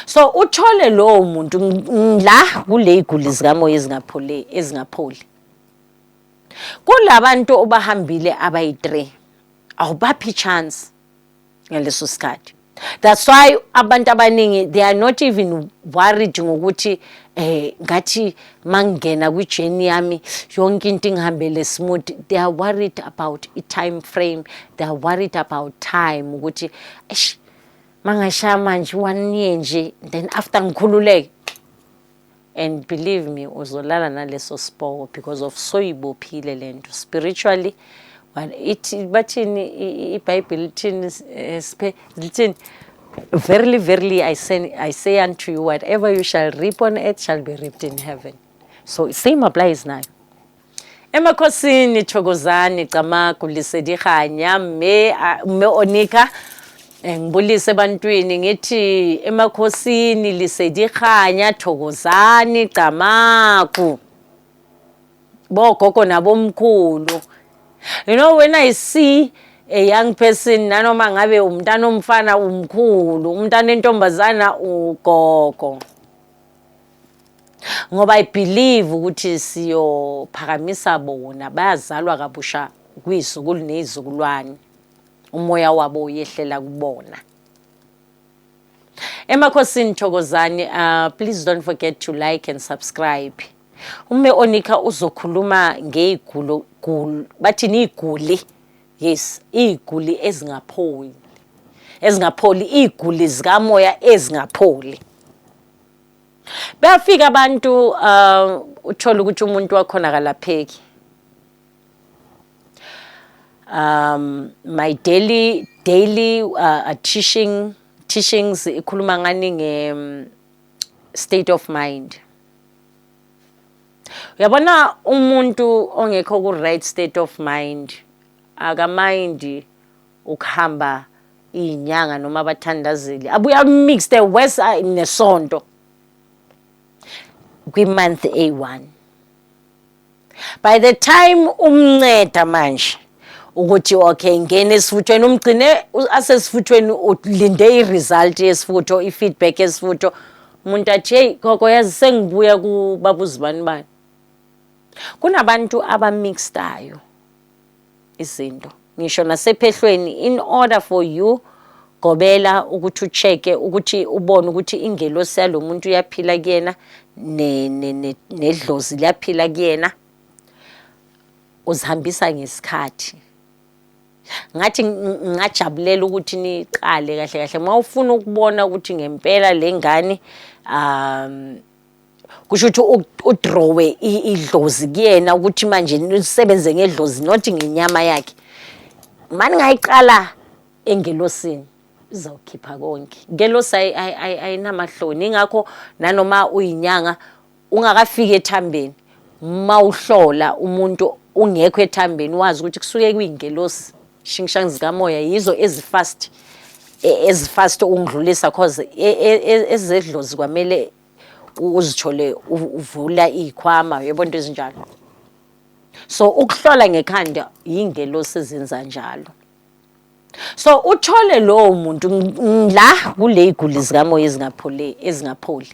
So uthole lowo muntu la kuleyiguli zikamoya ezingapholi ezingapholi. Kulabantu obahambile abayi-3 awubaphi chance ngaleso sikhathi. That's why abantu abaningi they are not even worried ngokuthi eh ngathi mangena kwi journey yami yonke into ingihambele smooth they are worried about i time frame they are worried about time ukuthi eish mangashaya manje one year nje then after ngikhululeke and believe me uzolala naleso siboko because of soyibophile le nto spiritually ithi bathini ibhayibheli lithini eh, siphe lithini verily verily I say, I say unto you whatever you shall reap on earth shall be reaped in heaven so same applies nayo Emakhosini Thokozani Camagu Lisedi Kganya mme mme Onika eh, ngibulise ebantwini ngithi emakhosini Lisedi Kganya Thokozani Camagu bogogo nabomkhulu you know when i see a young person nanoma ngabe umntana omfana umkhulu umntana entombazana ugogo ngoba i believe ukuthi siyophakamisa bona bayazalwa kabusha kwizukulu nezizukulwane umoya wabo uyehlela kubona emakhosini thokozani uh, please don't forget to like and subscribe ume onika uzokhuluma ngeyigulo bathi niyiguli yes iyiguli ezingapholi ezingapholi iyiguli zikamoya ezingapholi Bafika abantu uh, uthola ukuthi umuntu wakhona kalapheki. Um my daily daily uh, uh teaching teachings ikhuluma ngani nge um, state of mind. Uyabona umuntu ongekho ku right state of mind akamindi ukuhamba iyinyanga noma abathandazeli abuya mix the west ah, nesonto kwi-month a1 by the time umnceda manje ukuthi okay ngene esifuthweni umgcine asesifuthweni ulinde i-result yesifutho i-feedback yesifutho umuntu athi heyi gogo yazi sengibuya kubaba uzibani bani kunabantu abamixtayo izinto ngisho nasephehlweni in order for you gobela ukuthi ucheke ukuthi ubone ukuthi ingelosi yalo muntu uyaphila kuyena nedlozi liyaphila kuyena uzihambisa ngesikhathi ngathi ngajabulela ukuthi niqale kahle kahle uma ufuna ukubona ukuthi ngempela le ngane um kusho ukuthi udrowe idlozi kuyena ukuthi manje nisebenze ngedlozi not ngenyama yakhe mani ngayiqala engelosini izawukhipha konke ngelosi ayinamahloni ingakho nanoma uyinyanga ungakafiki ethambeni uma uhlola umuntu ungekho ethambeni wazi ukuthi kusuke kuyingelosi Shingshang zikamoya yizo ezifast e, ezifast ukungidlulisa cause e, e, ezedlozi kwamele uzithole uvula izikhwama yebo into ezinjalo so ukuhlola ngekhanda yingelosi ezenza njalo so uthole lowo muntu la kule iguli zikamoya ezingapholi ezingapholi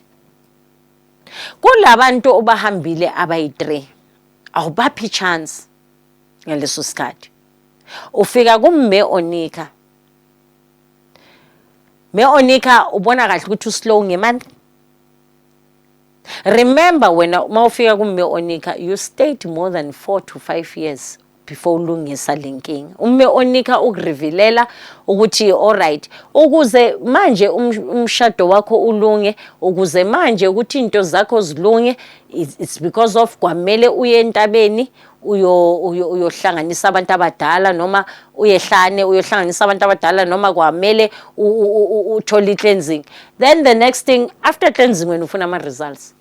kulabantu obahambile abayi-3 awubaphi chance ngaleso sikhathi ufika kumme onika me onika ubona kahle ukuthi uslow ngemali remember wena uma ufika kumme onika you stayed more than four to five years before ulungisa le nkinga ume onika ukurevilela ukuthi alright ukuze manje um, umshado wakho ulunge ukuze manje ukuthi into zakho zilunge it's because of kwamele uye entabeni uyohlanganisa abantu abadala noma uyehlane uyohlanganisa abantu abadala noma kwamele uthole i-cleansing then the next thing after cleansing wena ufuna ama-results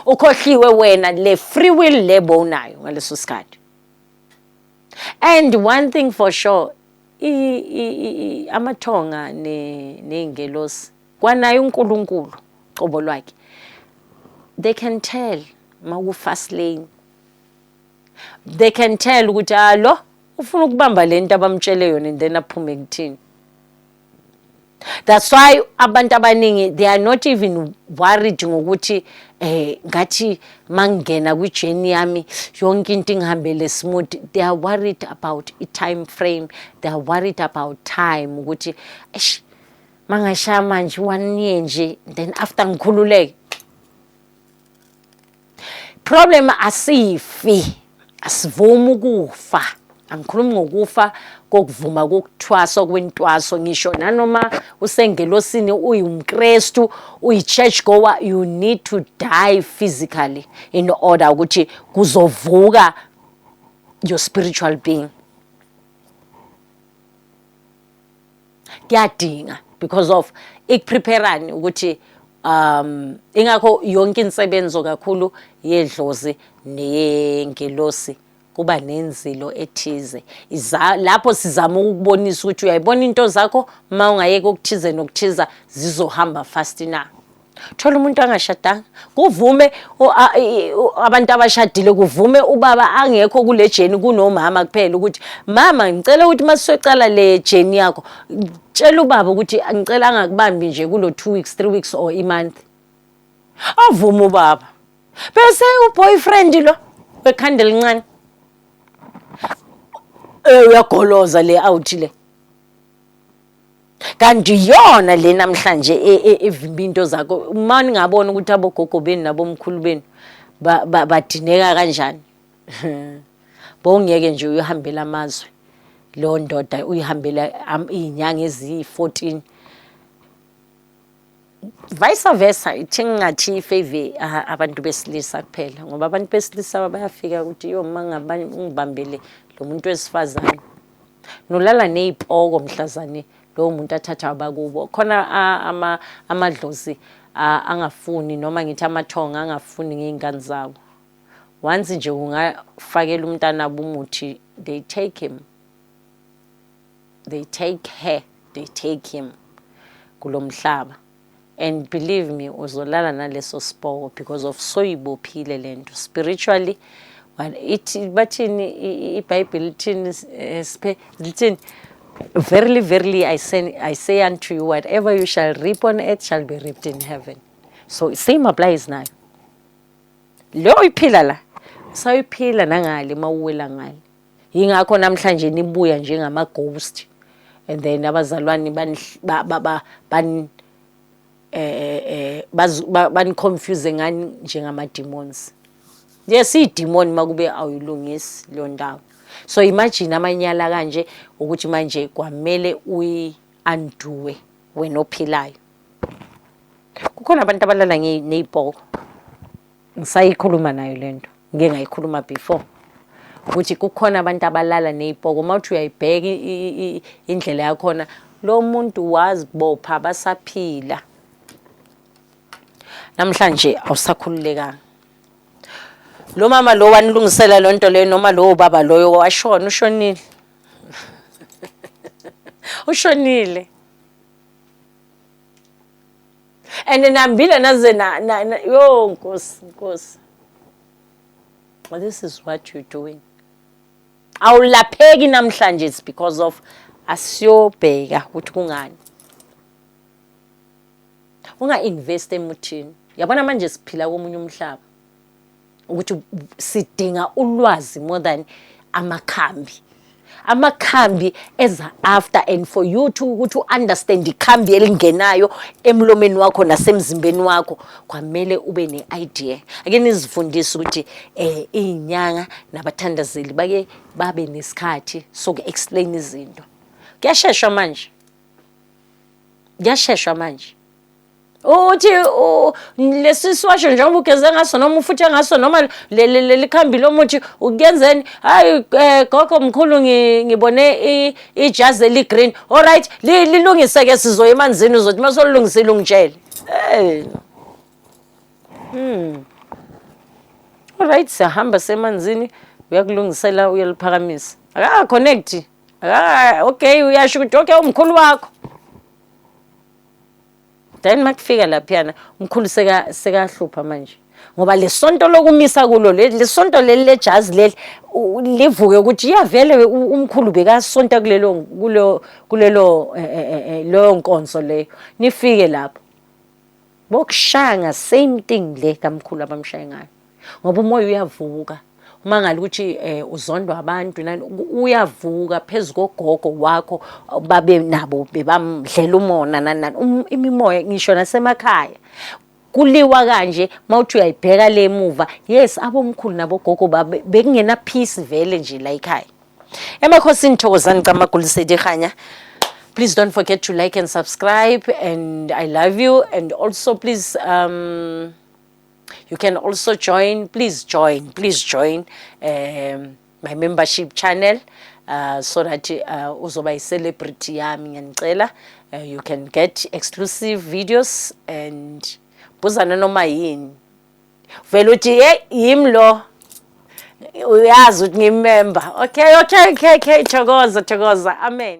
ukhohliwe wena le free will le bowunayo ngaleso sikhathi and one thing for sure amathonga ney'ngelosi Kwanaye uNkulunkulu qobo lwakhe. They can tell maku fast lane. They can tell ukuthi ah lo ufuna ukubamba lento abamtshele yona and then aphume kuthini. That's why abantu abaningi they are not even worried ngokuthi eh ngathi mangena kwi journey yami yonke into ingihambele smooth they are worried about i time frame they are worried about time ukuthi eish mangashaya manje one year nje then after ngikhululeke problem asifi asivumi ukufa angikhulumi ngokufa kokuvuma kokuthwasa kwentwaso ngisho nanoma usengelosini uyumkrestu uyi-church goer you need to die physically in order ukuthi kuzovuka your spiritual being kuyadinga because of ikupreparani ukuthi um ingakho yonke insebenzo kakhulu yedlozi neyengelosi kuba nenzilo ethize iza lapho sizama ukubonisa ukuthi uyayibona into zakho uma ungayeka ukuthize nokuthiza zizohamba fast na thola umuntu angashadanga kuvume abantu abashadile kuvume ubaba angekho kule jeni kunomama kuphela ukuthi mama ngicela ukuthi masisocala le jeni yakho tshela ubaba ukuthi ngicela angakubambi nje kulo 2 weeks 3 weeks or i month avume ubaba bese uboyfriend lo wekhanda elincane eh uyagoloza le out le kanti iyona le namhlanje e, e, evimba into zakho uma ningabona ukuthi abogogo benu nabomkhulu benu badineka kanjani bowungeke nje uyohambela amazwe lo ndoda uyihambela iy'nyanga eziyi-14 vice versa ithi ngingathi ifave abantu besilisa kuphela ngoba abantu besilisa bayafika ukuthi yo uma ngibambele lo muntu wesifazane nolala ney'poko mhlazane lowo muntu athatha abakubo khona amadlozi angafuni noma ngithi amathonga angafuni ngey'ngane zabo once nje ungafakela umntanabo umuthi they take him they take her they take him kulo mhlaba and believe me uzolala naleso siboko because of soyibophile le nto spiritually ithi bathini ibhayibheli lithini eh, siphe lithini verily verily I say, I say unto you whatever you shall reap on earth shall be reaped in heaven so same applies nayo leyo iphila la sayiphila nangale mawuwela ngale yingakho namhlanje nibuya njengama ghost and then abazalwane ban ba ba ban eh eh, eh bani confuse ngani njengama demons yes i demon makube awuyilungisi leyo ndawo so imagine amanyala kanje ukuthi manje kwamele uyi anduwe wena ophilayo kukhona abantu abalala ngeyibhoko ngisayikhuluma nayo le nto ngike ngayikhuluma before ukuthi kukhona abantu abalala ney'poko uma uthi uyayibheka indlela yakhona lo muntu wazibopha basaphila namhlanje awusakhululekanga lo mama lo wanilungisela loo nto leyo noma lowo baba loyo washona ushonile ushonile and nambile naze na, na, na yo nkosi nkosi this is what you doing awulapheki namhlanje it's because of asiyobheka ukuthi kungani unga-invest emuthini yabona manje siphila komunye umhlaba ukuthi sidinga ulwazi more than amakhambi amakhambi eza after and for you to ukuthi u-understand ikhambi elingenayo emlomeni wakho nasemzimbeni wakho kwamele ube ne-idea ake nizifundise ukuthi um iy'nyanga nabathandazeli bake babe nesikhathi soku-explain izinto kuyasheshwa manje kuyasheshwa manje uthi lesi siwasho njengoba ugeze ngaso noma ufuthe ngaso noma leli khambi lomuthi ukuyenzeni hayi um eh, gogo mkhulu ngibone ijazi eli-green all right lilungise-ke sizoya emanzini uzothi uma solulungisile ungitshele hey. hmm. all right siyahamba semanzini uyakulungisela uyaliphakamisa akaka-connect okay uyasho ukuthi okay umkhulu wakho then makufika laphiyana umkhulu sekahlupha manje ngoba lesonto lokumisa kulo lesonto leli lejazi leli livuke ukuthi iyavele umkhulu bekasonta kulelo kulo kulelo eh, eh, eh, leyo nkonzo leyo nifike lapho bokushanga same thing le kamkhulu abamshaye ngayo ngoba umoya uyavuka uma ngale ukuthi um eh, uzondwa abantu nani uyavuka phezu kogogo wakho babe nabo bebamdlela umona nani nani um, imimoya ngisho nasemakhaya kuliwa kanje mawuthi uyayibheka le muva yes abomkhulu nabogogo babe bekungena peace vele nje la ekhaya emakhosini thokozani camagulisedi khanya please don't forget to like and subscribe and i love you and also please um you can also join please join please join um, my membership channel uh, so that uh, uzoba yi-celebrity yami ngiyanicela uh, you can get exclusive videos and buzana noma yini vele uthi ye yim lo uyazi ukuthi ngimember okay okay okay okay thokoza thokoza amen